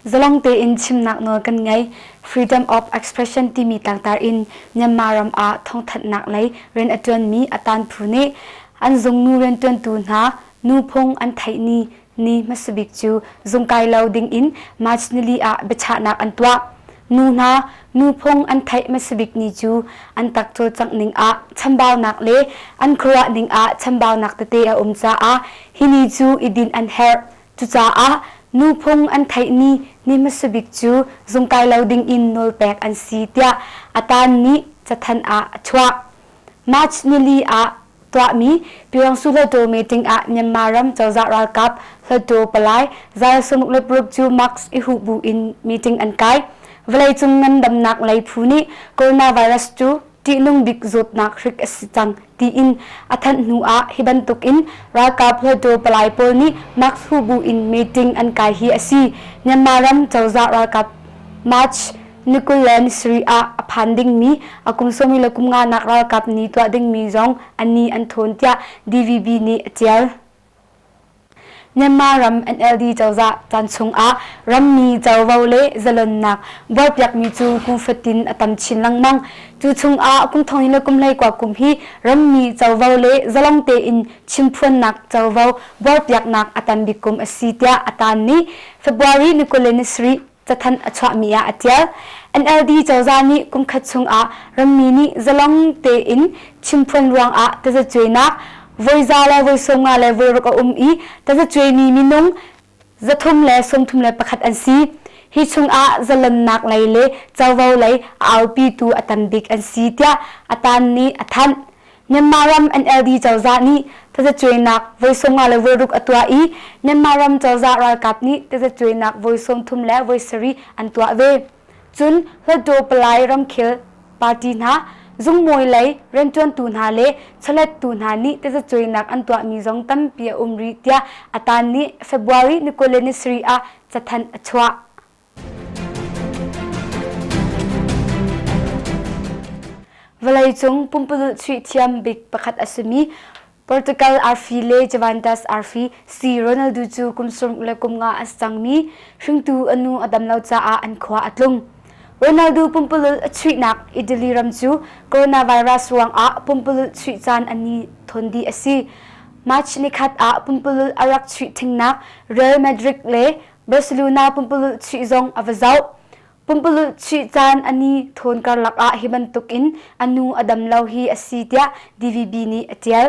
Zalong tein chimnak nawl kan ngei. Freedom of expression timi tlangtar in Myanmar ram ah thongthanhnak lei rian a tuanmi a tan phu nih an zung nu riantuantu hna nu phung an theih ni ni hmasabik cu zungkai lo dingin March nili ah biachahnak an tuah. Nu hna, nu phung an theih hmasabik ni cu an tak cawlcangh ning ah chambaunak le an khuaruah ning ah chambaunak tete a um caah hi ni cu i din an herh. Cucaah nu phung an theih ni ni hmasabik cu zungkai lo dingin nawlpek an si tiah a tan nih cathan ah a chuah. March nili ah Tuahmi Pyongsu Hluttaw meeting ah Myanmar ram cozah ralkap Hluttaw palai zal sunguk le paruk cu mask i huh bu in meeting an kai. Vawleicung ngandamnak lei phu nih coronavirus cu ṭihnung bik zawtnak hrik a si cang tiin a thanh hnu ah hi bantuk in ralkap Hluttaw palai pawl nih mask huh bu in meeting an kai hi a si. Myanmar ram cozah ralkap March Nikullen Sri ah a phan dingmi a kum sawmi le kum nganak ralkap ni tuah dingmi zong an ni an thawn tiah DVB nih a tial. Myanmar ram NLD cozah caan chungah rammi covo le zalonnak buarpiakmi cu kum fatin a tam chin lengmang. Cu chungah kum thongin le kum leikua kum hi rammi covo le zalong tein chimphuannak covo buarpiaknak a tam bik kum a si tiah a tan ni February Nikullen Sri cathanh a chuahmi ah a tial. NLD cozah nih kumkhat chungah rammi nih zalong tein chimphuan ruangah tazacuainak voiza le voisawmnga le voiruk a um i tazacuaimi minung zathum le sawmthum le pakhat an si. Hi chungah zalonnak lei le covo lei a aupitu a tam bik an si tiah a tan nih a thanh. Myanmar ram NLD cozah nih tazacuainak voi sawm nga le voi ruk a tuah i Myanmar ram cozah ralkap nih tazacuainak voi sawm thum le voi sarih an tuah ve. Cun Hluttaw Palai ramkhel party hna, zungmawi lei rianṭuantu hna le chawlettu hna nih tazacuainak an tuahmi zong tampi a um rih tiah a taan nih February ni kul le ni sarih ah cathanh a chuah. Vawleicung pumpululh chuih thiam bik pakhat a simi Portugal arfi le Juventus arfi si Ronaldo cu kum sawm le kum nga a si cangmi hringtu a nu a dam lo caah an khua a tlung. Ronaldo pumpululh a chuihnak Italy ram cu coronavirus ruangah pumpululh chuih caan an ni thon dih a si. March ni khat ah pumpululh a rak chuih thingnak Real Madrid le Barcelona pumpululh chuih zong a va zoh. Pumpululh chuih caan a ni thawn karlak ah hi bantuk in a nu a dam lo hi a si tiah DVB nih a tial.